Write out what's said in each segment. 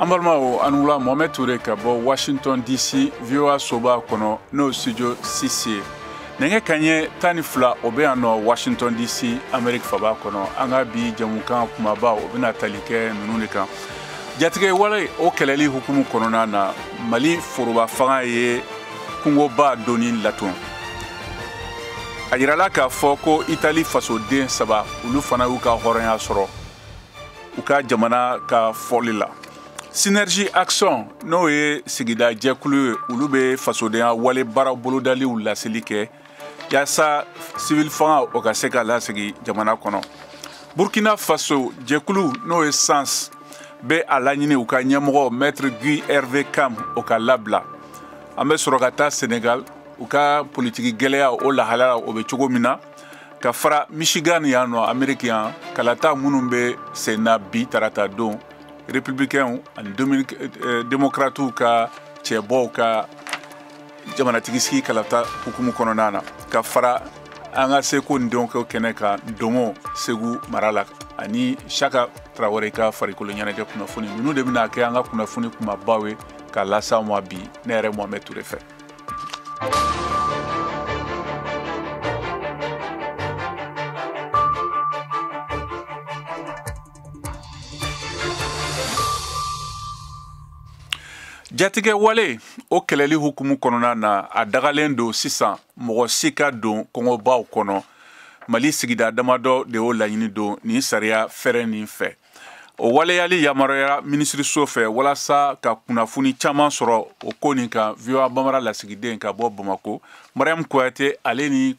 an balimaw aw ni wula mohamɛd ture ka bɔ washington dc voa soba kɔnɔ n'o studio six ye nɛgɛ kaɲɛ tan ni fila o bɛ yan nɔ washington dc amerique faba kɔnɔ an ka bi jamukan kumabaw o bɛna tali kɛ ninnu de kan jatigɛ wale o kɛlɛli hukumu kɔnɔna na mali foroba fanga ye kungoba donni latɔn a yirala k'a fɔ ko itali fasoden saba olu fana y'u ka hɔrɔnya sɔrɔ u ka jamana ka fɔli la Synergie Action n'o ye sigida jɛkulu ye olu bɛ fasodenya wale baara bolodaliw laseli kɛ yaasa civil fanga o ka se ka lasigi jamana kɔnɔ Burkina Faso jɛkulu n'o ye SENS bɛ a laɲini u ka ɲɛmɔgɔ maître Guy Hervé Kam o ka labila an bɛ sɔrɔ ka taa Sénégal u ka politiki gɛlɛya o lahalaya o bɛ cogo min na ka fara Michigan yan nɔ Amérique yan kalata minnu bɛ sen na bi tarata don républicains ani euh, démocrates ka cɛbɔw ka jamanatigi sigi kalata hukumu kɔnɔna na ka fara an ka seko ni dɔnko kɛnɛ ka domo segu mara la ani siaka tarawele ka farikolo ɲɛnajɛ kunnafoni ninnu de bɛna kɛ an ka kunnafoni kumabaw ye ka lase aw ma bi ne yɛrɛ mohamɛd ture fɛ jatigɛ wale o kɛlɛli hukumu kɔnɔna na a dagalen don sisan mɔgɔ si ka don kungobaw kɔnɔ mali sigida damadɔ de o laɲini don nin sariya fɛɛrɛ nin fɛ o waleyali yamaruyara minisiriso fɛ walasa ka kunnafoni caman sɔrɔ o ko nin kan voa bambara lasigiden ka bɔ bamako mariam kuyate ale ni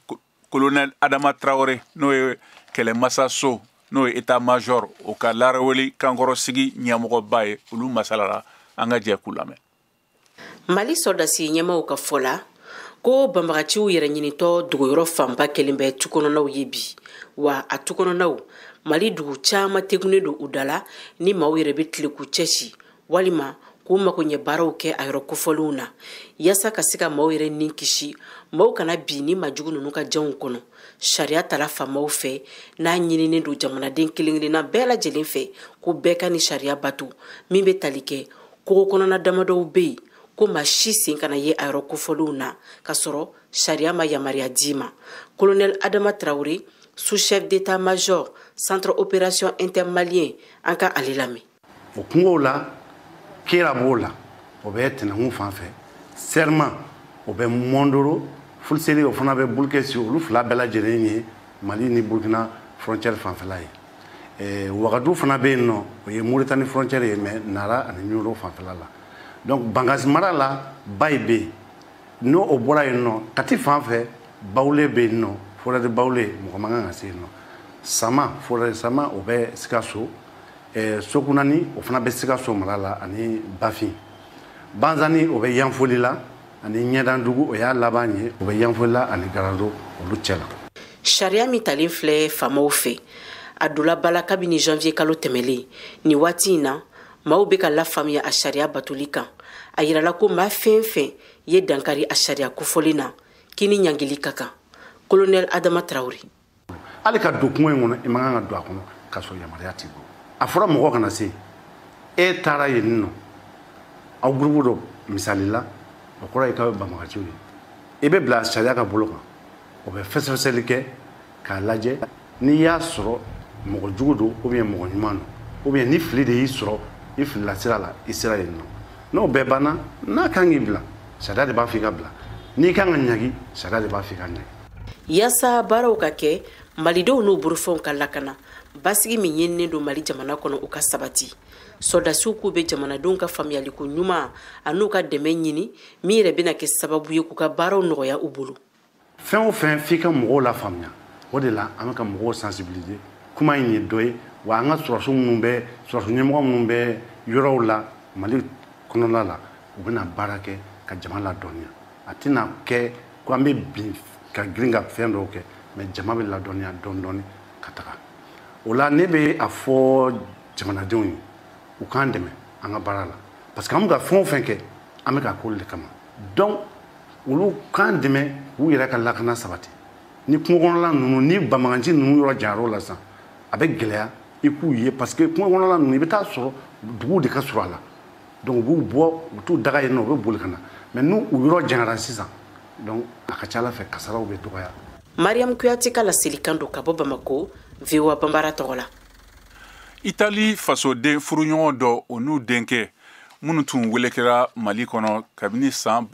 colonel adama tarawele n'o ye kɛlɛmasa so n'o ye etat major o ka laraweli kankɔrɔsigi ɲɛmɔgɔba ye olu masalala an ka jɛ k'u lamɛn mali sɔrɔdasi ɲɛmaaw ka fɔ la ko banbagaciw yɛrɛ ɲinitɔ dogoyɔrɔ fanba kɛlen bɛ tukɔnɔnaw ye bi wa a tukɔnɔnaw mali dugu caman tegunnen don u da la ni maaw yɛrɛ bɛ tile k'u cɛsi walima k'u mago ɲɛ baaraw kɛ a yɔrɔ kofɔlenw na yaasa ka se ka maaw yɛrɛ ni kisi maaw kana bin nin maajugu ninnu ka janw kɔnɔ sariya tala faamaw fɛ n'a ɲininen don jamanaden kelen kelenna bɛɛ lajɛlen fɛ ko bɛɛ ka nin sariya bato min bɛ tali kɛ kungo kɔnɔna damadɔw bɛ yen ko maa si sen kana ye a yɔrɔ kofɔlenw na ka sɔrɔ sariya ma yamaruya d'i ma kolonɛli adama tarawele sous chef d'état major centre opération intermalien an ka ale lamɛn o kungow la kera b'o la o bɛ tɛnɛkun fan fɛ sɛrima o bɛ mɔndoro fuliseri o fana bɛ bulukɛsi olu fila bɛɛ lajɛlen ye mali ni burukina frontière fanfɛla ye eh, wagadu fana bɛ yen nɔ o ye moritani frontière ye mais nara ani ɲoro fanfɛla la donc bangasi mara la bayi bɛ yen n'o o bɔra yen nɔ kati fan fɛ bawule bɛ yen nɔ forêt de bawule mɔgɔ man kan ka se yen nɔ sama forêt de sama o bɛ sikaso eh, sokunani o fana bɛ sikaso mara la ani bafin banzani o bɛ yanfolila ani ɲɛdandugu o y'a laban ye o bɛ yanfolila ani garalo olu cɛ la sariya min talen filɛ faamaw fɛ a donna ba la kabini janvier kalo tɛmɛlen nin waati in na maaw bɛ ka lafaamuya a sariya batoli kan a yirala ko maa fɛn fɛn ye dankari a sariya kofɔlen na k'i ni ɲangili ka kan kolonɛl adama tarawele hali ka don kungo in kɔnɔ i man kan ka don a kɔnɔ k'a sɔrɔ yamaruya t'i bolo a fɔra mɔgɔ kana se e taara yen nɔ aw gurupu dɔ misali la o kɔrɔ ye k'aw ye banbagaciw ye i bɛ bila sariya ka bolo kan o bɛ fɛsɛfɛsɛli kɛ k'a lajɛ n'i y'a sɔrɔ mɔgɔ jugu don ou bien mɔgɔ ɲuman don ou bien ni fili de y'i sɔrɔ i filila sira la i sera yen nɔ n'o bɛɛ banna n'a kan k'i bila sariya de b'a fɔ i ka bila n'i kan ka ɲagi sariya de b'a fɔ i ka ɲagi yasa baaraw ka kɛ malidenw n'u bolofɛnw ka lakana basigi min ɲininen don mali jamana kɔnɔ o ka sabati sɔrɔdasiw k'u bɛ jamanadenw ka faamuyali koɲuman an'u ka dɛmɛ ɲini min yɛrɛ bɛna kɛ sababu ye k'u ka baaraw nɔgɔya u bolo fɛn o fɛn f'i ka mɔgɔw lafaamuya o de la an bɛ ka mɔgɔw sensibiliser kuma in ye dɔ ye wa an ka sɔrɔdasi ɲɛmɔgɔ minnu bɛ yɔrɔw la mali kɔnɔna la u bɛna baara kɛ ka jama ladɔnniya a tɛna kɛ ko an bɛ bin ka girin ka fɛn dɔw kɛ mais jama bɛ ladɔnniya dɔɔni dɔɔni ka taga o la ne bɛ a fɔ jamanadenw ye u k'an dɛmɛ an ka baara la parce que an bɛ ka fɛn o fɛn kɛ an bɛ k'a k'olu de kama donc olu k'an dɛmɛ k'u yɛrɛ ka lakana sabati ni kungo kɔnɔla ninnu ni banbagaci ninnu yɔrɔ janyara o la sisan a bɛ gɛlɛya i k'u ye parce que kungo kɔnɔla ninnu i bɛ t'a sɔrɔ duguw de ka surun a la donc u b'u bɔ u t'u daga yen nɔ u bɛ boli ka na mais n'u yɔrɔ janyara sisan donc a ka ca a la fɛ kasaraw bɛ dɔgɔya mariam kuyate ka laselikan don ka bɔ bamako voa banbara tɔgɔ la itali fasoden furuɲɔgɔn dɔw n'u denkɛ minnu tun welekera mali kɔnɔ kabini san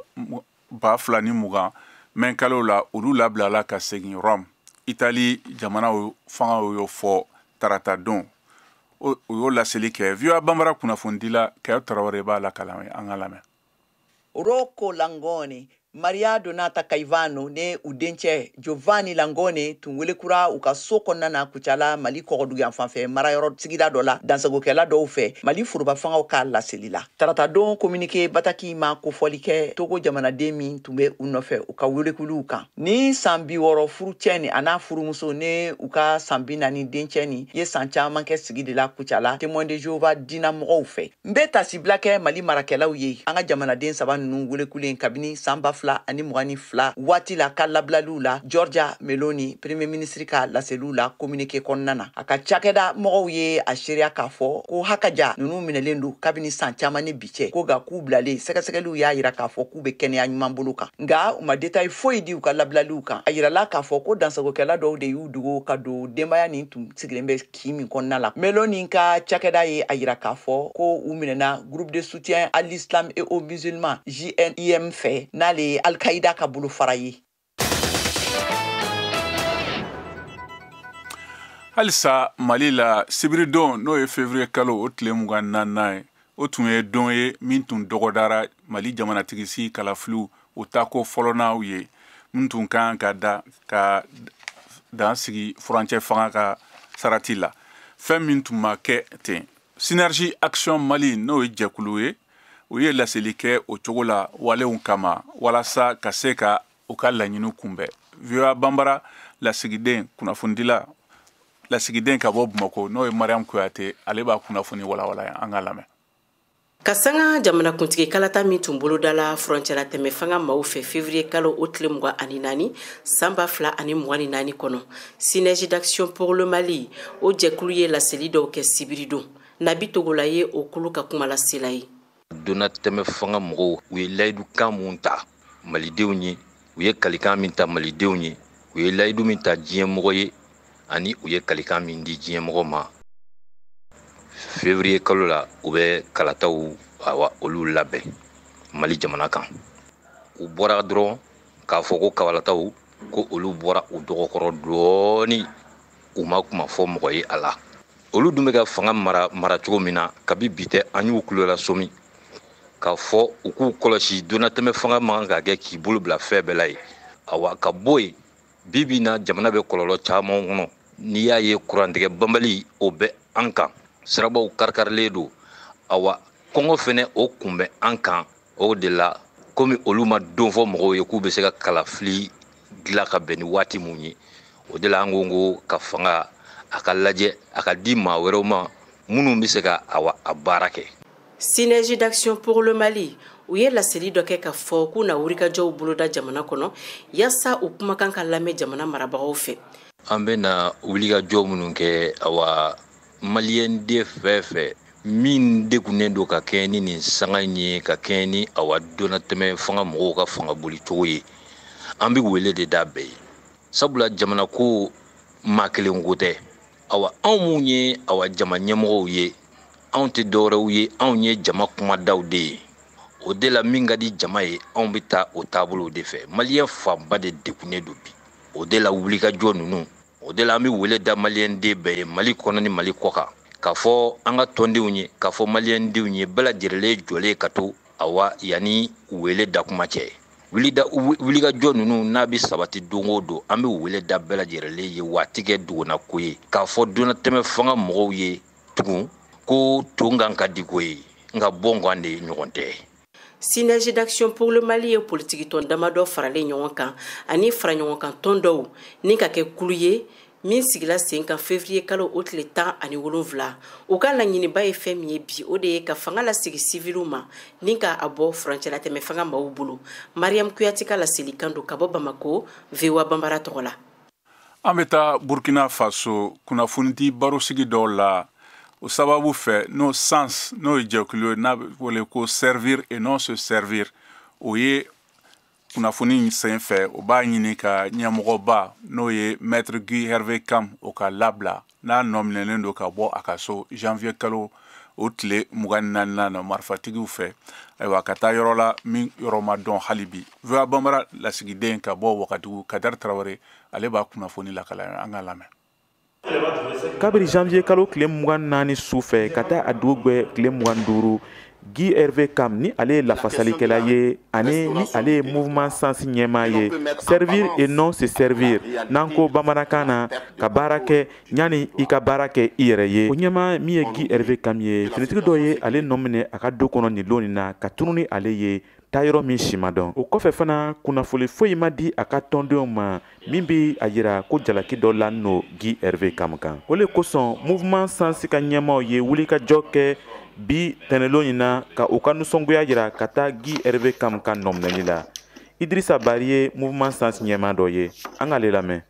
ba fila ni mugan mɛkalo la olu labilala ka segin rɔm itali jamana fanga y'o fɔ tarata don o y'o laseli kɛ voa banbara kunnafonidila kɛyɔ tarawele b'a lakali an ye an k'a lamɛn rocco langone maria donata caivano ni u dencɛ Giovanni Langone tun welekura u ka so kɔnɔna na Kucala Mali kɔgɔdugu yanfan fɛ marayɔrɔ sigida dɔ la dansagokɛla dɔw fɛ Mali foroba fangaw ka laseli la. Taratadon kominike bataki ma kofɔli kɛ Togo jamanaden min tun bɛ u nɔfɛ u ka welekuliw kan. Ni san biwɔrɔ furucɛ nin an'a furumuso ni u ka san binani dencɛ nin ye san caman kɛ sigi de la Kucala Témoin de Jehovah diina mɔgɔw fɛ. n be tasibila kɛ mali marakɛlaw ye an ka jamanaden saba nunu welekulen kabini saan ba fila ani mugan ni fila waati la ka labilaliw la giorgia meloni premier minisiri ka laseliw la kominike kɔnɔna na a ka cakɛda mɔgɔw ye a seereya k'a fɔ ko hakaja nunu minɛlen do kabini saan caaman ni bi cɛ ko nga k'u bilalen sɛgɛsɛgɛliw y'a yira k'a fɔ k'u be kɛnɛya ɲuman bolo kan nga u ma detayi foyi di u ka labilaliw kan a yirala k'a fɔ ko dansagokɛla dɔw de y'u dogo ka don denbaya nin tun sigilen bɛ kin min kɔnɔna la meloni ka cakɛda ye a yira k'a fɔ ko u minɛna groupe de soutien à l'islam et aux musulmans jnim fɛ n'ale ye alkaida ka bolofara ye halisa mali la sibiridon n'o ye fevriye kalo o tile mugan naaninan ye o tun ye don ye min tun dɔgɔdara mali jamanatigisi kalafiliw u tako fɔlɔnaw ye min tun kan ka da ka dan sigi furancɛ fanga ka sarati la fɛn min tun ma kɛ ten synergie action mali n'o ye jɛkulu ye u ye laseli kɛ o cogo la walenw kama walasa ka se ka u ka laɲiniw kunbɛn voa banbara lasigiden kunnafonidila lasigiden ka bɔ bamako n'o ye mariam kuyate ale b'a kunnafoni walawala an ka lamɛn ka sanga jamanakuntigi kalata min tun bolodala furancɛla tɛmɛ fanga maaw fɛ fevriye kalo o tile mugan ani naani san ba fila ani mugan ni naani kɔnɔ synergie d'action pour le mali o jɛkulu ye laseli dɔw kɛ sibiridon nabi togola ye o kulu ka kumalasela ye donnatɛmɛ fanga mɔgɔw u ye layidukan min ta malidenw ye u ye kalikan min ta malidenw ye u ye layidu min ta diɲɛmɔgɔ ye ani u ye kalikan min di diɲɛmɔgɔ ma fevriye kalo la u bɛ kalataw awa olu labɛn mali jamana kan u bɔra dɔrɔn k'a fɔ ko kalataw ko olu bɔra u dɔgɔkɔrɔ dɔɔni u ma kuma fɔ mɔgɔ ye a la olu dun bɛ ka fanga mara mara cogo min na kabi bi tɛ an y'u kulo lasɔmi k'a fɔ u k'u kɔlɔsi donnatɛmɛ fanga man kan ka kɛ k'i bolo bila fɛn bɛɛ la ye awa ka bɔ yen bi bi na jamana bɛ kɔlɔlɔ caman kɔnɔ n'i y'a ye kurantigɛ banbali o bɛ an kan sirabaw karikarilen don awa kɔngɔ fɛnɛ o kun bɛ an kan o de la komi olu ma don fɔ mɔgɔw ye k'u bɛ se ka kalafili dilan ka bɛn ni waati mun ye o de la an ko ko ka fanga a ka lajɛ a ka di maa wɛrɛw ma minnu bɛ se ka awa a baara kɛ synergie d'action pour le mali u ye laseli dɔ kɛ k'a fɔ k'u na wulikajɔw boloda jamana kɔnɔ yasa u kumakan ka lamɛn jamana marabagaw fɛ an bɛna wulikajɔ minnu kɛ awa maliyɛnden fɛn fɛn min degunnen don ka kɛɲɛ ni nin sanga in ye ka kɛɲɛ ni awa donnatɛmɛ fanga mɔgɔw ka fanga boli cogo ye an bɛ wele de da bɛɛ ye sabula jamana ko maa kelen ko tɛ awa anw minnu ye awa jama ɲɛmɔgɔw ye anw tɛ dɔwɛrɛw ye anw ye jama kumadaw de ye o de la min ka di jama ye anw bɛ taa o taabolow de fɛ maliyɛn fanba de degunnen don bi o de la wulikajɔ ninnu o de la an bɛ wele da maliyɛnden bɛɛ ye mali kɔnɔ ni mali kɔkan k'a fɔ an ka tɔndenw ye k'a fɔ maliyɛndenw ye bɛɛ lajɛlen jɔlen ka to awa yanni wele da kuma cɛ wulikajɔ ninnu n'a bɛ sabati don o don an bɛ wele da bɛɛ lajɛlen ye waati kɛ dugunako ye k'a fɔ donnatɛmɛ fanga mɔgɔw ye tugun ko ton kan ka di ko ye nka bɔn kan de ɲɔgɔn tɛ Synergie d'action pour le Mali ye politikitɔn damadɔ faralen ɲɔgɔn kan ani faraɲɔgɔnkan tɔn dɔw ni ka kɛ kulu ye min sigila sen kan fevriye kalo o tile tan ani wolonfila u ka laɲiniba ye fɛn min ye bi o de ye ka fanga lasegin siviliw ma ni ka a bɔ furancɛlatɛmɛ fanga maw bolo mariyamu kuyate ka laselikan don ka bɔ bamako voa banbara tɔgɔ la an bɛ taa burkina faso kunnafonidi barosigi dɔw la o sababu fɛ n'o sens n'o ye jɛkulu ye n'a bɛ wele ko servir et non se servir o ye kunnafoni in sen fɛ o b'a ɲini k'a ɲɛmɔgɔba n'o ye maître guy hervé kam o ka labila n'a nɔminɛlen don ka bɔ a ka so janvier kalo o tile mugan naaninan na marifatigiw fɛ ayiwa ka taa yɔrɔ la min yɔrɔ ma dɔn hali bi voa banbara lasigiden ka bɔ wagadugu kadɛri tarawele ale b'a kunnafoni lakala an k'a lamɛn kabiri janvier kalo tile mugan naani su fɛ ka taa a dugu gwɛ tile mugan duuru Guy Hervé Kam ni ale ye lafasalikɛla ye ani ni ale ye mouvement sens ɲɛmaa ye servir et non se servir n'an ko bamanankan na ka baara kɛ yanni i ka baara kɛ i yɛrɛ ye o ɲɛmaa min ye Guy Hervé Kam ye finitigi dɔ ye ale nɔminɛ a ka du kɔnɔ nin lon nin na ka tunun ni ale ye taa yɔrɔ min si ma dɔn o kɔfɛ fana kunnafoli foyi ma di a ka tɔndenw ma min bɛ a yira ko jalaki dɔ lanin lo Guy Hervé Kam kan o le kosɔn mouvement sens ka ɲɛmaaw ye wulikajɔ kɛ bi tɛnɛlon in na ka u ka nisɔngoya yira ka taa Guy Hervé Kam ka nɔminɛli la idirisa bari ye mouvement sens ɲɛmaa dɔ ye an k'ale lamɛn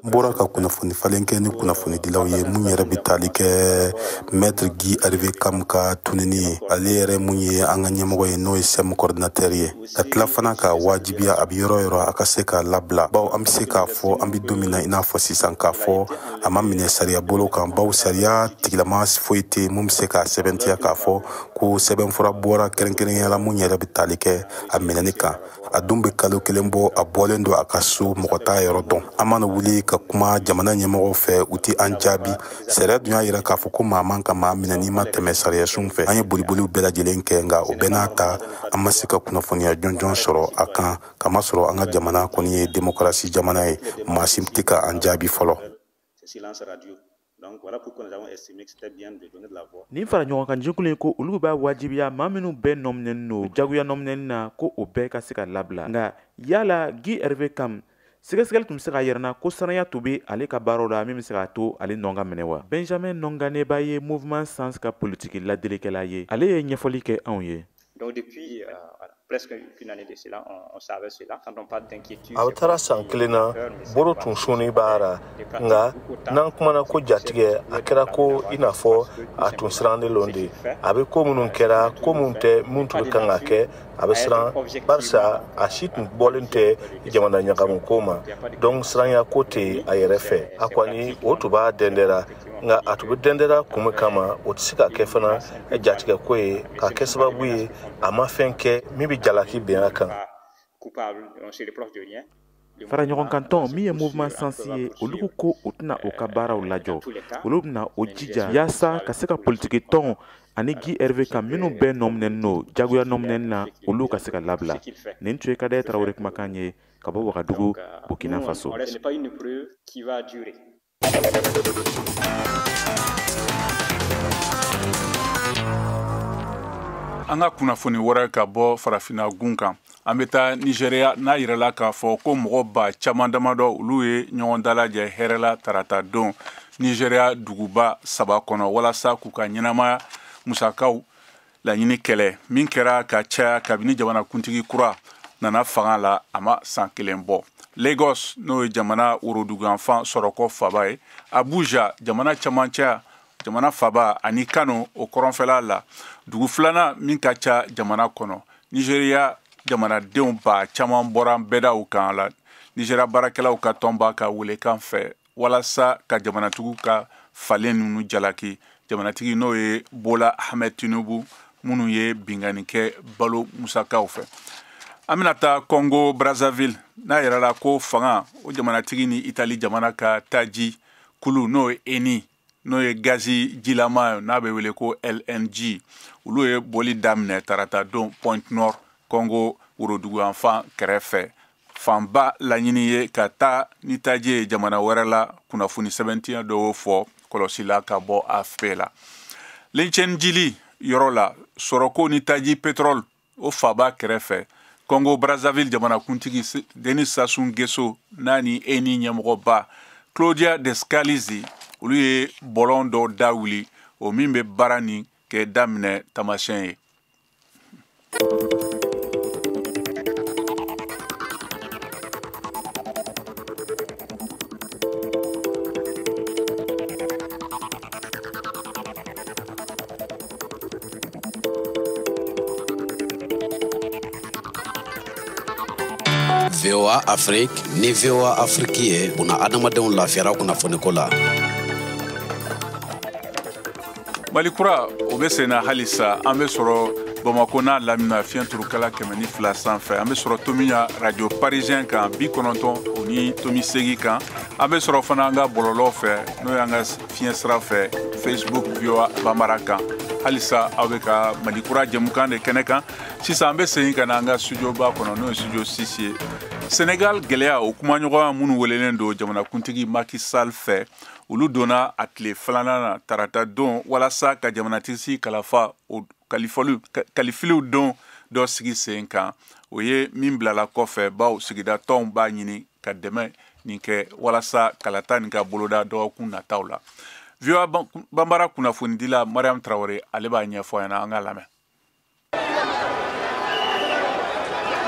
N bɔra ka kunnafoni falen kɛ ni kunnafonidilaw ye mun yɛrɛ bɛ tali kɛ maître Guy Hervé Kam ka tununi ye ale yɛrɛ mun ye an ka ɲɛmɔgɔ ye n'o ye SENS coordinateur ye ka tila fana ka wajibiya a bɛ yɔrɔ yɔrɔ a ka se ka labila bawo an bɛ se k'a fɔ an bɛ don min na i n'a fɔ sisan k'a fɔ a ma minɛ sariya bolo kan bawo sariya tigilama foyi tɛ mun bɛ se k'a sɛbɛntiya k'a fɔ ko sɛbɛnfura bɔra kɛrɛnkɛrɛnnenya la mun yɛrɛ bɛ tali kɛ a minɛni kan a dun bɛ kalo kelen bɔ a bɔlen don a ka so mɔgɔ t'a yɔrɔ dɔn an mana wuli ka kuma jamana ɲɛmɔgɔw fɛ u tɛ an jaabi sariya dun y'a yira k'a fɔ ko maa man ka maa minɛ n'i ma tɛmɛ sariyasunw fɛ an ye boliboliw bɛɛ lajɛlen kɛ nka o bɛɛ n'a ta an ma se ka kunnafoniya jɔnjɔn sɔrɔ a kan kamasɔrɔ an ka jamana kɔni ye demokarasi jamana ye maa si tɛ ka an jaabi fɔlɔ Donc voilà pourquoi nous avons estimé que c'était bien de donner de la voix. Nin fara ɲɔgɔn kan jɛkulu in ko olu b'a wajibiya maa minnu bɛɛ nɔminɛni don jagoya nɔminɛni na ko o bɛɛ ka se ka labila nka yala Guy Hervé Kam sɛgɛsɛgɛli tun bɛ se k'a yira an na ko siranya tun bɛ ale ka baaraw la min bɛ se k'a to ale nɔ ka minɛ wa benjamin nɔnganeba ye mouvement SENS ka politiki ladilikɛla ye ale ye ɲɛfɔli kɛ anw ye Donc depuis euh, presque une année de cela, on, on savait cela. Quand on parle d'inquiétude, a bɛ taara san kelen na bolo tun sunin b'a ra nka n'an kumana ko jatigɛ a kɛra ko i n'a fɔ a tun sirannen lon de a bɛ ko minnu kɛra ko minnu tɛ minnu tun bɛ kan ka kɛ a bɛ siran barisa a si tun bɔlen tɛ jamana ɲagamu ko ma donc siranya ko tɛ a yɛrɛ fɛ a kɔni o tun b'a dɛndɛra nka a tun bɛ dɛndɛra kun min kama o tɛ se ka kɛ fana jatigɛko ye k'a kɛ sababu ye a ma fɛn kɛ min bɛ jalaki bin a kan fara ɲɔgɔn kan tɔn min ye mouvement SENS ye olu ko u tɛna u ka baaraw lajɔ olu bɛna u jija yaasa ka se ka politiki tɔn ani Guy Hervé Kam minnu bɛɛ nɔminɛni don jagoya nɔminɛni na olu ka se ka labila nin tun ye kadɛri tarawele kumakan ye ka bɔ wagadugu burkina faso an ka kunnafoni wɛrɛ ka bɔ farafina gun kan an bɛ taa nizeriya n'a yirala k'a fɔ ko mɔgɔ ba caman damadɔ olu ye ɲɔgɔn dalajɛ hɛrɛ la tarata don nizeriya duguba saba kɔnɔ walasa k'u ka ɲɛnamaya musakaw laɲini kɛlɛ min kɛra ka caya kabini jamanakuntigi kura nana fanga la a ma san kelen bɔ lagos n'o ye jamana woroduguyanfan sɔrɔko faba ye abuja jamana camancɛya jamana faba ani kano o kɔrɔnfɛla la dugu filanan min ka ca jamana kɔnɔ nizeriya jamanadenw ba caman bɔra bɛdaw kan la nizeriya baarakɛlaw ka tɔnba ka welekan fɛ walasa ka jamanatigi ka falen ninnu jalaki jamanatigi n'o ye bola ahmed tinubu minnu ye binkanni kɛ balo musakaw fɛ an bɛna taa congo brazzaville n'a yirala ko fanga o jamanatigi ni itali jamana ka taji kulu n'o ye eni n'o ye gazi jilama n'a bɛ wele ko lng olu ye bɔli daminɛ tarata don pointe noire congo woroduguyanfan kɛrɛfɛ fanba laɲini ye ka taa ni taji ye jamana wɛrɛ la kunnafoni sɛbɛntiya dɔ y'o fɔ kɔlɔsi la ka bɔ afp la litchendjili yɔrɔ la sɔrɔko ni taji petrol o faaba kɛrɛfɛ congo brazzaville jamanakuntigi denis sassou nguesso n'a ni eni ɲɛmɔgɔba claudia descalzi olu ye bɔlɔn dɔ da wuli o min bɛ baara nin kɛ daminɛ taamasiyɛn ye voa afrique ni voa afrique ye bunadamadenw lafiyara kunnafoniko la mali kura o be senna halisa an be sɔrɔ bamako n'a lamina fiɲɛ turukala kɛmɛ ni fila sanfɛ an be sɔrɔ tominian radio parisien kan bi kɔnɔntɔn o ni tomi seegin kan an be sɔrɔ fana an ka bɔlɔlɔ fɛ n'o y'an ka fiɲɛ sira fɛ facebook voa banbara kan halisa aw bɛ ka mali kura jɛmukan de kɛnɛ kan sisan an bɛ segin ka na an ka studioba kɔnɔ n'o ye studio six ye senegal gɛlɛya o kumaɲɔgɔnya minnu welelen don jamanakuntigi macky sall fɛ olu donna a tile filanan na tarata don walasa ka jamanatigi kalafa kalafiliw don dɔ sigi sen kan o ye min bilala kɔfɛ bawo sigida tɔnw b'a ɲini ka dɛmɛ nin kɛ walasa kalata nin ka boloda dɔgɔkun nataw la voa banbara kunnafonidila mariam tarawele ale b'a ɲɛfɔ an ɲɛna an k'a lamɛn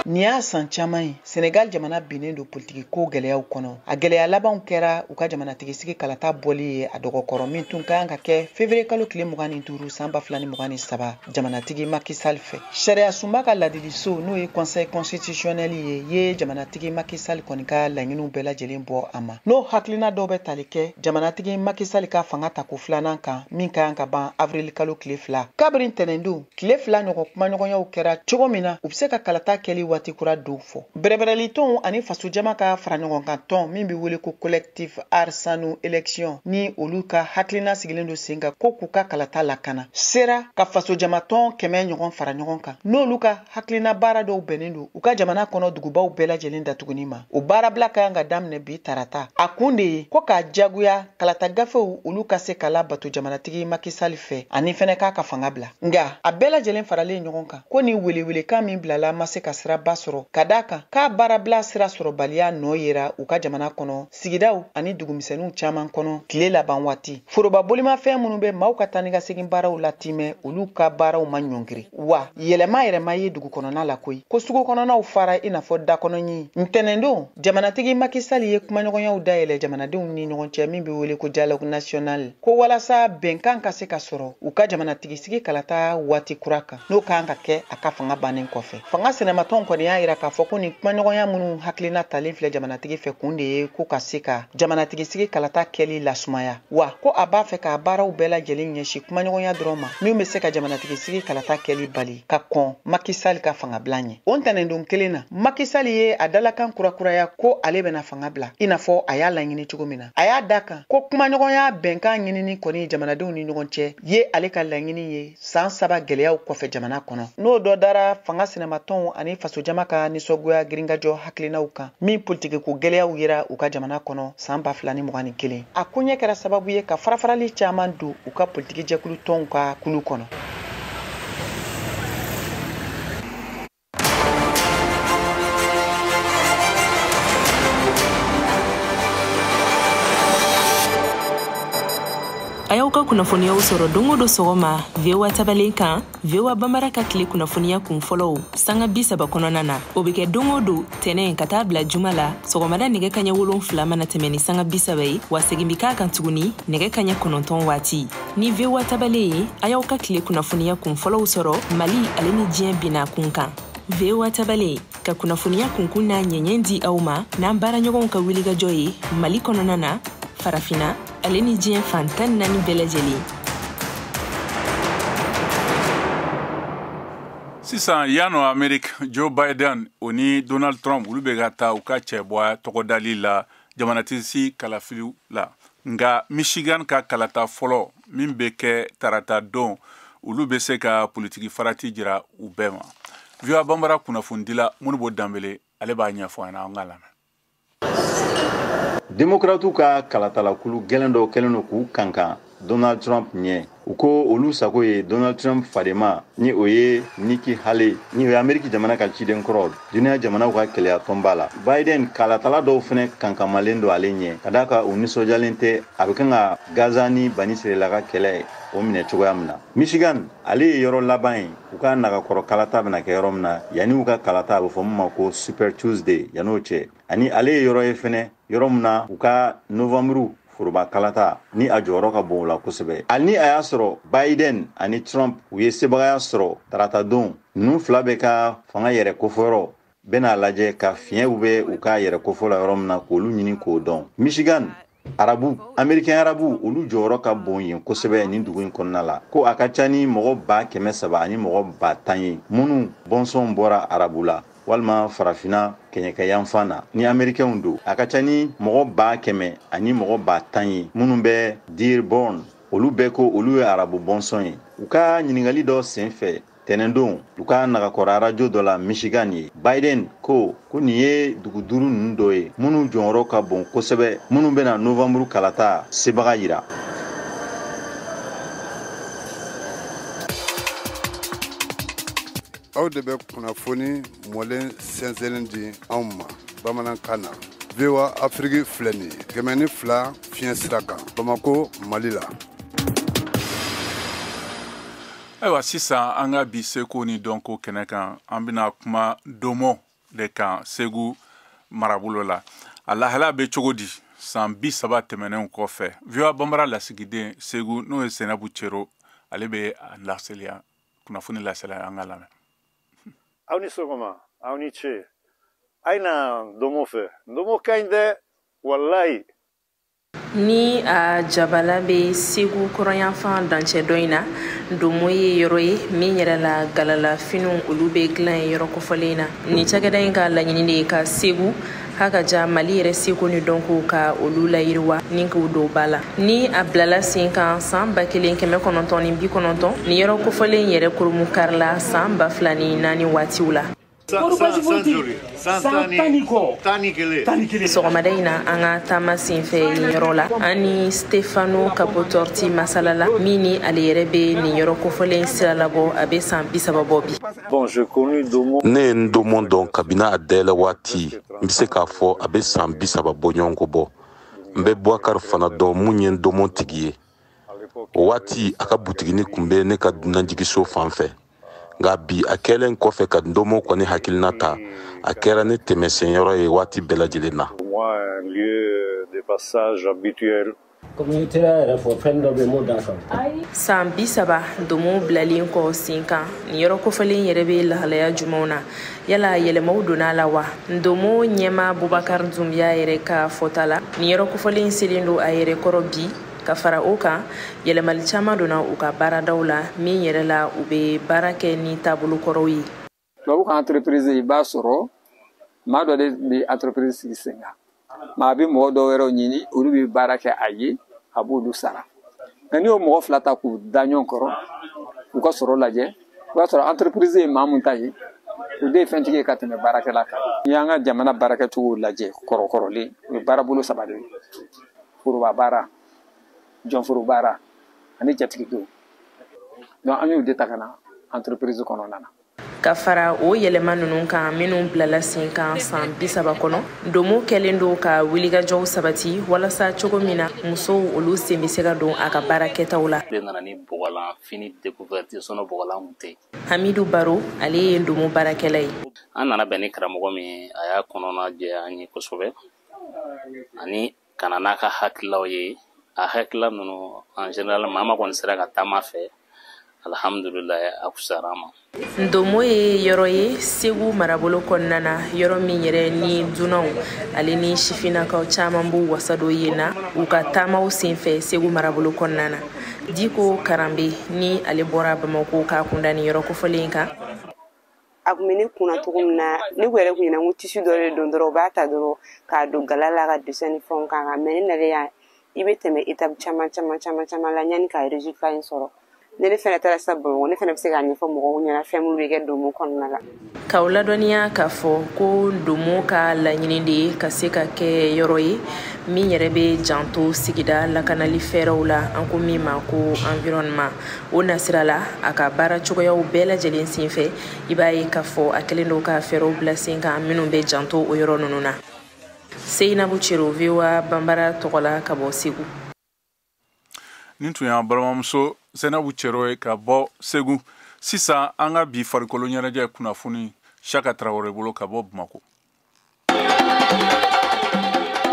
nin y'a san caman ye Senegal jamana binnen don politiki ko gɛlɛyaw kɔnɔ a gɛlɛya labanw kɛra u ka jamanatigisigi kalata bɔli ye a dɔgɔ kɔrɔ min tun ka kan ka kɛ fevriye kalo tile mugan ni duuru san ba fila ni mugan ni saba jamanatigi macky sall fɛ sariya sunba ka laadiliso n'o ye conseil constitutionnel ye ye jamanatigi macky sall kɔni ka laɲiniw bɛɛ lajɛlen bɔ a ma n'o hakilina dɔw bɛ tali kɛ jamanatigi macky sall ka fanga tako filanan kan min ka kan ka ban avril kalo tile fila kabiri ntɛnɛndon Tile fila ɲɔgɔn kumaɲɔgɔnyaw kɛra cogo min na u bɛ se ka kalata kɛli waati kura dɔw fɔ bɛrɛbɛrɛlitɔnw ani fasojama ka fara ɲɔgɔn kan tɔn min bɛ wele ko collectif Aar Sunu Election ni olu ka hakilina sigilen don sen kan ko k'u ka kalata lakana sera ka fasojamatɔn kɛmɛ ɲɔgɔn fara ɲɔgɔn kan n'olu ka hakilina baara dɔw bɛnnen don u ka jamana kɔnɔ dugubaw bɛɛ lajɛlen datuguni ma o baarabila ka kan ka daminɛ bi tarata a kun de ye ko k'a jagoya kalata gafew olu ka se ka labato jamanatigi Macky Sall fɛ ani fɛnɛ k'a ka fanga bila nga a bɛɛ lajɛlen faralen ɲɔgɔn kan ko ni welewelekan min bilala ma se ka siraba sɔrɔ ka da a kan k'a baarabila sira sɔrɔbaliya nɔ yera u ka jamana kɔnɔ sigidaw ani dugumisɛniw caaman kɔnɔ tile laban waati foroba bolimafɛn minnu bɛ maaw ka taa ni ka segin baaraw latimɛ olu ka baaraw ma ɲɔngiri wa yɛlɛma yɛrɛ ma ye dugu kɔnɔna la koyi ko sugu kɔnɔnaw fara i n'a fɔ dakɔnɔɲi ntɛnɛndon Jamanatigi Macky Sall ye kumaɲɔgɔnyaw dayɛlɛ jamanadenw ni ɲɔgɔn cɛ min bɛ wele ko dialogue national ko walasa bɛnkan ka se ka sɔrɔ u ka jamanatigisigi kalata waati kura kan n'o kan ka kɛ a ka fanga bannen kɔfɛ fanga sinamatɔnw kɔni y'a yira k'a fɔ ko nin kumaɲɔgɔnya minnu hakilina talen filɛ jamanatigi fɛ kun de ye ko ka se ka jamanatigisigi kalata kɛli lasumaya wa ko a b'a fɛ k'a baaraw bɛɛ lajɛlen ɲɛsin kumaɲɔgɔnya dɔrɔn ma min bɛ se ka jamanatigisigi kalata kɛli bali ka kɔn Macky Sall ka fangabila ɲɛ o ntɛnɛndon kelen na Macky Sall ye a dalakan kurakuraya ko ale bɛna fanga bila i n'a fɔ a y'a laɲini cogo min na a y'a da kan ko kumaɲɔgɔnya bɛnkan ɲinini kɔni jamanadenw ni ɲɔgɔn cɛ ye ale ka laɲini ye san saba gɛlɛyaw kɔfɛ jamana kɔnɔ n'o dɔ dara fanga sinamatɔnw ani fasojama ka nisɔngoya girinkajɔ hakilinaw kan min politikiko gɛlɛyaw yera u ka jamana kɔnɔ san ba fila ni mugan ni kelen a koɲɛ kɛra sababu ye ka farafarali caman don u ka politikijɛkulu tɔnw ka kulu kɔnɔ a y'aw ka kunnafoniyaw sɔrɔ don o don sɔgɔma voa tabalen kan voa bambara ka tile kunnafoniya kun fɔlɔw sanga bi saba kɔnɔna na o be kɛ don o don tɛnɛn ka taa bila juma la sɔgɔmada nɛgɛ kaɲɛ wolonfila mana tɛmɛ ni sanga bi saba ye wa segin be k'a kan tuguni nɛgɛ kaɲɛ kɔnɔntɔn waati ni voa tabale ye a y'aw ka tile kunnafoniya kun fɔlɔw sɔrɔ mali ale ni diɲɛ bina kun kan voa tabale ka kunnafoniya kunkun n'a ɲɛɲɛ di aw ma n'an baaraɲɔgɔnw ka wulikajɔ ye mali kɔnɔna na farafina ale ni diɲɛ fan tan naani bɛɛ lajɛlen sisan yan nɔ ameriki joe biden o ni donald trump olu bɛ ka taa u ka cɛbɔya tɔgɔdali la jamanatigisigi kalafiliw la nka michigan ka kalata fɔlɔ min bɛ kɛ tarata don olu bɛ se ka politiki farati jira u bɛɛ ma voa bambara kunnafonidila modibo dembele ale b'a ɲɛfɔ an na an ka lamɛn demokratiw ka kalatalakulu gɛlɛn dɔ kɛlen don k'u kankan donald trump ɲɛ u ko olu sago ye donald trump fadenma ni o ye niki haley ni o ye ameriki jamana ka ciden kɔrɔ duniya jamanaw ka kelenya tɔnba la biden kalatala dɔw fɛnɛ kankanmalen don ale ɲɛ ka da a kan u nisɔjalen tɛ a bɛ kan ka gaza ni banisirayila ka kɛlɛ o minɛ cogoya min na michigan ale ye yɔrɔ laban ye u ka nagakɔrɔ kalata bɛna kɛ yɔrɔ min na yanni u ka kalata a bɛ fɔ min ma ko super tuesday yan'o cɛ ani ale ye yɔrɔ ye fɛnɛ yɔrɔ min na u ka novanburu foroba kalata ni a jɔyɔrɔ ka bon o la kosɛbɛ hali ni a y'a sɔrɔ biden ani trump u ye sebagaya sɔrɔ taratadon ninnu fila bɛɛ ka fanga yɛrɛ kofɔyɔrɔ bɛna lajɛ ka fiɲɛw bɛ u ka yɛrɛ kofɔ la yɔrɔ min na k'olu ɲini k'o dɔn michigan arabu amerikɛn arabu olu jɔyɔrɔ ka bon yen kosɛbɛ nin dugu in kɔnɔna la ko a ka ca ni mɔgɔ ba kɛmɛ saba ani mɔgɔ ba tan ye minnu bɔnsɔn bɔra arabu la walima farafina kɛɲɛkɛ yanfan na ni amerikɛnw don a ka ca ni mɔgɔ ba kɛmɛ ani mɔgɔ ba tan ye minnu bɛ dearborn olu bɛɛ ko olu ye arabu bɔnsɔn ye u ka ɲininkali dɔ sen fɛ tɛnɛndon u ka nagakɔrɔ arajo dɔ la michigan yen biden ko ko nin ye dugu duuru ninnu dɔ ye minnu jɔyɔrɔ ka bon kosɛbɛ minnu bɛna novanburu kalata sebaga yira aw de bɛ kunnafoni mɔlen sɛnsɛnlen di anw ma bamanankan na voa afiriki filɛ nin ye kɛmɛ ni fila fiɲɛ sira kan bamako mali la ayiwa sisan an ka bi seko ni dɔnko kɛnɛ kan an bɛna kuma ndomo de kan segu marabolo la a lahala bɛ cogo di san bi saba tɛmɛnenw kɔfɛ voa banbara lasigiden segu n'o ye sɛnɛbu cero ale bɛ a laseliya kunnafoni lasela an k'a lamɛn aw ni sɔgɔma aw ni ce a ye na ndomo fɛ ndomo ka ɲi dɛ walayi ni a jabala bɛ segu kɔrɔnyanfan dancɛ dɔ in na ndomo ye yɔrɔ ye min yɛrɛ la galalafiniw olu bɛ dilan ye yɔrɔ kofɔlen na nin cakɛda in ka laɲini de ye ka segu k'a ka ja mali yɛrɛ seko ni dɔnko ka olu layiriwa ni k'u don ba la ni a bilala sen kan san ba kelen kɛmɛ kɔnɔntɔn ni bi kɔnɔntɔn nin yɔrɔ kofɔlen yɛrɛ kurunbonkarila san ba fila ni naani waatiw la sɔgɔmada in na an ka taama senfɛ nin yɔrɔ la an ni stefano capotorti masala la min ni ale yɛrɛ bɛ nin yɔrɔ kofɔlen sira labɔ a bɛ san bisaba bɔ bi ne ye ndomo dɔn kabini a dayɛlɛ waati n be se k'a fɔ a be san bi saba bɔɲɔgɔnko bɔ n be bubakar fana dɔn min ye ndomo tigi ye o waati a ka butiginin kun be ne ka dunanjigiso fan fɛ nka bi a kɛlen kɔfɛ ka ndomo kɔni hakilina ta a kɛra ne tɛmɛsenyɔrɔ ye waati bɛɛ lajɛlen na komi i teri yɛrɛ fɔ fɛn dɔ bɛ m'o da kan saan bisaba ndomo bilalen kɔ sen kan nin yɔrɔ kofɔlen yɛrɛ bɛ lahalaya jumanw na yala yɛlɛmaw donna a la wa ndomo ɲɛmaa bubakar dunbiya yɛrɛ ka fɔta la nin yɔrɔ kofɔlen selen don a yɛrɛ kɔrɔ bi ka fara o kan yɛlɛmali caman donna u ka baaradaw la min yɛrɛ la u bɛ baara kɛ ni taabolo kɔrɔw ye tubabu ka entreprise i b'a sɔrɔ maa dɔ de bɛ entreprise sigi sen kan maa bɛ mɔgɔ dɔ wɛrɛw ɲini olu bɛ baara kɛ a ye a b'olu sara nka n'i y'o mɔgɔ fila ta k'u da ɲɔgɔn kɔrɔ k'u ka sɔrɔ lajɛ i b'a sɔrɔ entreprise ye maa mun ta ye o de ye fɛntigi ye ka tɛmɛ baarakɛla kan n'i y'an ka jamana baarakɛcogow lajɛ kɔrɔkɔrɔlen o ye baarabolo saba de ye foroba baara jɔnforo baara ani jatigidenw donc an y'u de ta ka na entreprise kɔnɔna na ka fara o yɛlɛma nunu kan minnu bilala sen kan san bisaba kɔnɔ ndomo kɛlen don ka wilikajɔw sabati walasa cogo min na musow olu sen bɛ se ka don a ka baara kɛtaw la nana ni bɔgɔlan fini découverte sɔnɔ bɔgɔlan kun tɛ hamidu baro ale ye ndomo baarakɛla ye an nana bɛn ni karamɔgɔ min a y'a kɔnɔna jɛ an ye kosɛbɛ ani ka na n'a ka hakililaw ye a hakilila ninnu en général maa maa kɔni sera ka taama a fɛ alhamdulilayi a fusara a ma ndomo ye yɔrɔ ye segu marabolo kɔnɔna na yɔrɔ min yɛrɛ ni dunanw ale ni sifinnakaw caman b'u wasa don yen na u ka taamaw senfɛ segu marabolo kɔnɔna na diko karanbe ni ale bɔra bamako k'a kunda nin yɔrɔ kofɔlen kan a kun bɛ ne kunna cogo min na ne ko yɛrɛ kun ɲɛna ko tissu dɔ de don dɔrɔn u b'a ta dɔrɔn k'a don gala la ka dessin ni fɛnw k'a kan mais ne nalen yan i bɛ tɛmɛ étape caman caman caman caman la yanni ka résultat in sɔrɔ ne ne fɛnɛ taara sa bamakɔ ne fɛnɛ bɛ se k'a ɲɛfɔ mɔgɔw ɲɛna fɛn minnu bɛ kɛ ndomo kɔnɔna la k'aw ladɔnniya k'a fɔ ko ndomo ka laɲini de ye ka se ka kɛ yɔrɔ ye min yɛrɛ bɛ janto sigida lakanali fɛɛrɛw la an ko min ma ko environnement o nasira la a ka baara cogoyaw bɛɛ lajɛlen senfɛ i b'a ye k'a fɔ a kɛlen don ka fɛɛrɛw bila sen kan minnu bɛ janto o yɔrɔ ninnu na seyinabu cero voa banbara tɔgɔ la ka bɔ segu nin tun y'an balimamuso seyinabu cero ye ka bɔ segu sisan an ka bi farikolo ɲɛnajɛ kunnafoni siaka tarawele bolo ka bɔ bamako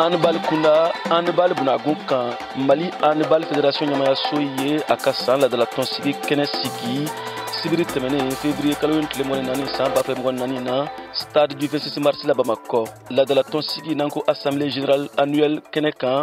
handball kunda handball bunagun kan mali handball fédération ɲɛmaayaso ye a ka saan ladalatɔnsigi kɛnɛ sigi sibiri tɛmɛnen février kalo in tile mugan ni naani saan ba fila mugan ni naani na stade du 26 mars la bamakɔ ladalatɔnsigi n'an ko assemblée générale annuelle kɛnɛ kan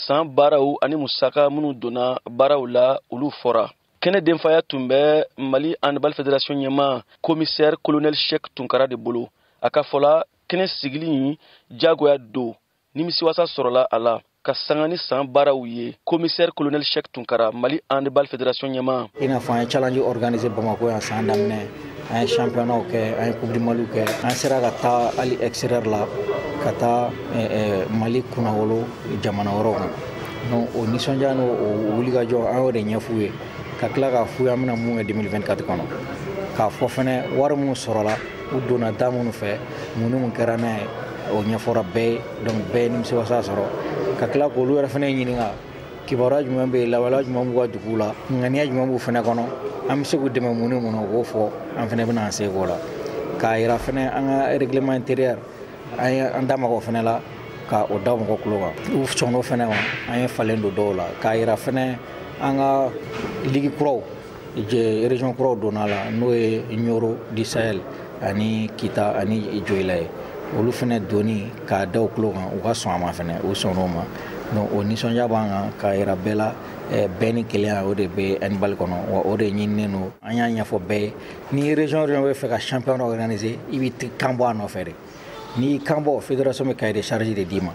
saan baaraw ani musaka minnu donna baaraw la olu fɔra kɛnɛ denfaya tun bɛ mali handball federation ɲɛma komisɛri kolonɛl shek tunkara de bolo a ka fɔ la kɛnɛ sigili in jagoya don nimisiwasa sɔrɔla a la ka sanga ni san baaraw ye komisɛri kolonɛl shek tunkara mali handball federation ɲɛma i n'a fɔ an ye challenge organiser bamako yan san daminɛ an ye championnat kɛ an ye coupe du mali kɛ an sera ka taa hali extérieur la ka taa eh, eh, mali kunnawolo jamana wɛrɛw kan donc o nisɔndiya n'o o wulikajɔ an y'o de ɲɛf'u ye ka tila k'a f'u ye an bɛna mun kɛ 2024 kɔnɔ k'a fɔ fɛnɛ wari minnu sɔrɔla u donna da minnu fɛ mun ni mun kɛra n'a ye o ɲɛfɔra bɛɛ ye donc bɛɛ ye nimisiwasa sɔrɔ ka tila k'olu yɛrɛ fɛnɛ ɲininka kibaruya jumɛn bɛ yen lawaleya jumɛn b'u ka duguw la ŋaniya jumɛn b'u fɛnɛ kɔnɔ an bɛ se k'u dɛmɛ mun ni mun na u k'o fɔ an fɛnɛ bɛna an seko la k'a yira fɛnɛ an ka règlement intérieur an ye an da maga o fɛnɛ la ka o da mɔgɔ kulo kan u sɔnn'o fɛnɛ ma an ye falen don dɔw la k'a yira fɛnɛ an ka ligi kuraw région kuraw donna a la n'o ye ɲoro du sahel ani kita ani joyila ye olu fɛnɛ donni k'a da u kulo kan u ka sɔn a ma fɛnɛ u sɔnna o ma donc o nisɔndiya b'an kan k'a yira bɛɛ la eh, bɛɛ ni kelenya o de bɛ handball kɔnɔ wa o de ɲininen don an y'a ɲɛfɔ bɛɛ ye ni région région bɛ fɛ ka championnat organiser i b'i kan bɔ a nɔfɛ de n'i y'i kan bɔ fédération bɛ cahier de charge de d'i ma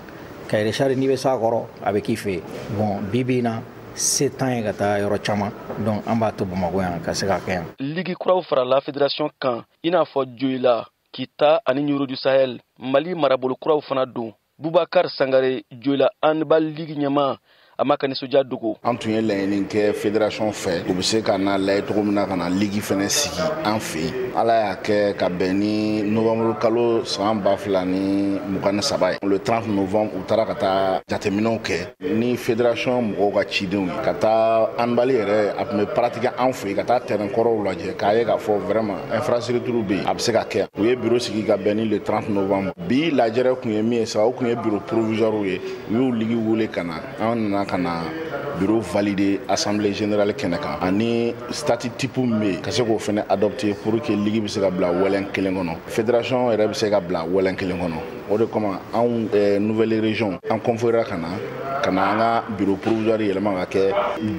cahier de charge n'i bɛ s'a kɔrɔ a bɛ k'i fɛ yen bon bi bi in na se t'an ye ka taa yɔrɔ caman donc an b'a to bamako yan ka se ka kɛ yan ligi kuraw farala federasiyɔn kan i n'a fɔ joyila kita ani ɲoro du sahel mali marabolo kuraw fana don bubakar sangare joyila handball ligi ɲɛma a m'a ka nisɔndiya dogo an tun ye laɲini kɛ federasiyɔn fɛ u bɛ se ka na lajɛ cogo min na ka na ligi fɛnɛ sigi an fɛ yen ala y'a kɛ ka bɛn ni novanburu kalo san ba fila ni mugan ni saba ye le 30 novembre u taara ka taa jateminɛw kɛ ni federation mɔgɔw ka cidenw ye ka taa handball yɛrɛ a tun bɛ pratiquer an fɛ yen ka taa tɛrɛn kɔrɔw lajɛ k'a ye k'a fɔ vraiment infrastructure bɛ yen a bɛ se ka kɛ u ye biro sigi ka bɛn ni le 30 novembre bi lajɛrɛ kun ye min ye sa o kun ye biro provisoire ye u y'u ligi wele ka na an nana ka na biro valider assemblée générale kɛnɛ kan ani statut type min bɛ yen ka se k'o fɛnɛ adopter pour que ligi bɛ se ka bila wɛlɛn kelen kɔnɔ federation yɛrɛ bɛ se ka bila wɛlɛn kelen kɔnɔ o de kama anw eh, nouvelle région an conviéra ka na ka na an ka bureau provisoire yɛlɛma ka kɛ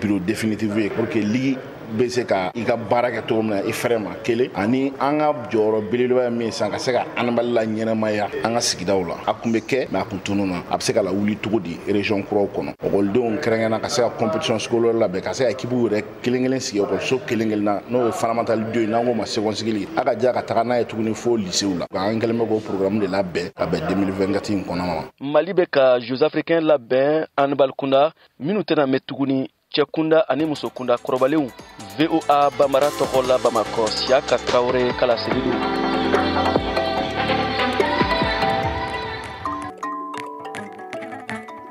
bureau définitive ye pour que ligi bɛ se ka i ka baara kɛ cogo min na i fɛrɛ ma kelen ani an ka jɔyɔrɔ belebeleba ye min ye sisan ka se ka handball laɲɛnamaya an ka sigidaw la a kun bɛ kɛ mais a kun tununna a bɛ se ka lawuli cogo di région kuraw kɔnɔ ekɔlidenw kɛrɛnkɛrɛnna ka se ka compétition scolaire labɛn ka se ka ekipuw yɛrɛ kelen kelen sigi ekɔliso kelen kelenna n'o ye fondamentale 2 ye n'an k'o ma segɔnsigili a ka ja ka taga n'a ye tuguni fo lisew la an kɛlen bɛ k'o programme de labɛn ka bɛn 2024 in kɔnɔna ma mali bɛ ka jeux africains labɛn handball kunda minnu tɛna mɛn tuguni cɛ kunda ani muso kunda kɔrɔbalenw voa bambara tɔgɔ la bamakɔ siyaka tarawele ka laseli don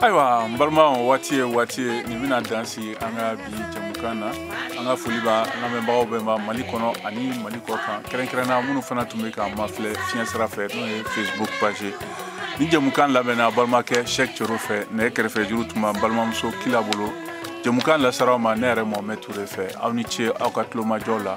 ayiwa n balima waati ye waati ye nin bɛna dan sigi an ka bi jamukan na an ka foli b'a lamɛnbagaw bɛɛ ma mali kɔnɔ ani mali kɔ kan kɛrɛnkɛrɛnna minnu fana tun bɛ k'an mafilɛ fiɲɛ sira fɛ n'o ye facebook page nin jamukan labɛnna balimakɛ sɛk cero fɛ nɛgɛ kɛrɛfɛ juru tun b'an balimamuso kila bolo jamukan lasera aw ma ne yɛrɛ mohamɛ ture fɛ aw ni ce aw ka tulomajɔ la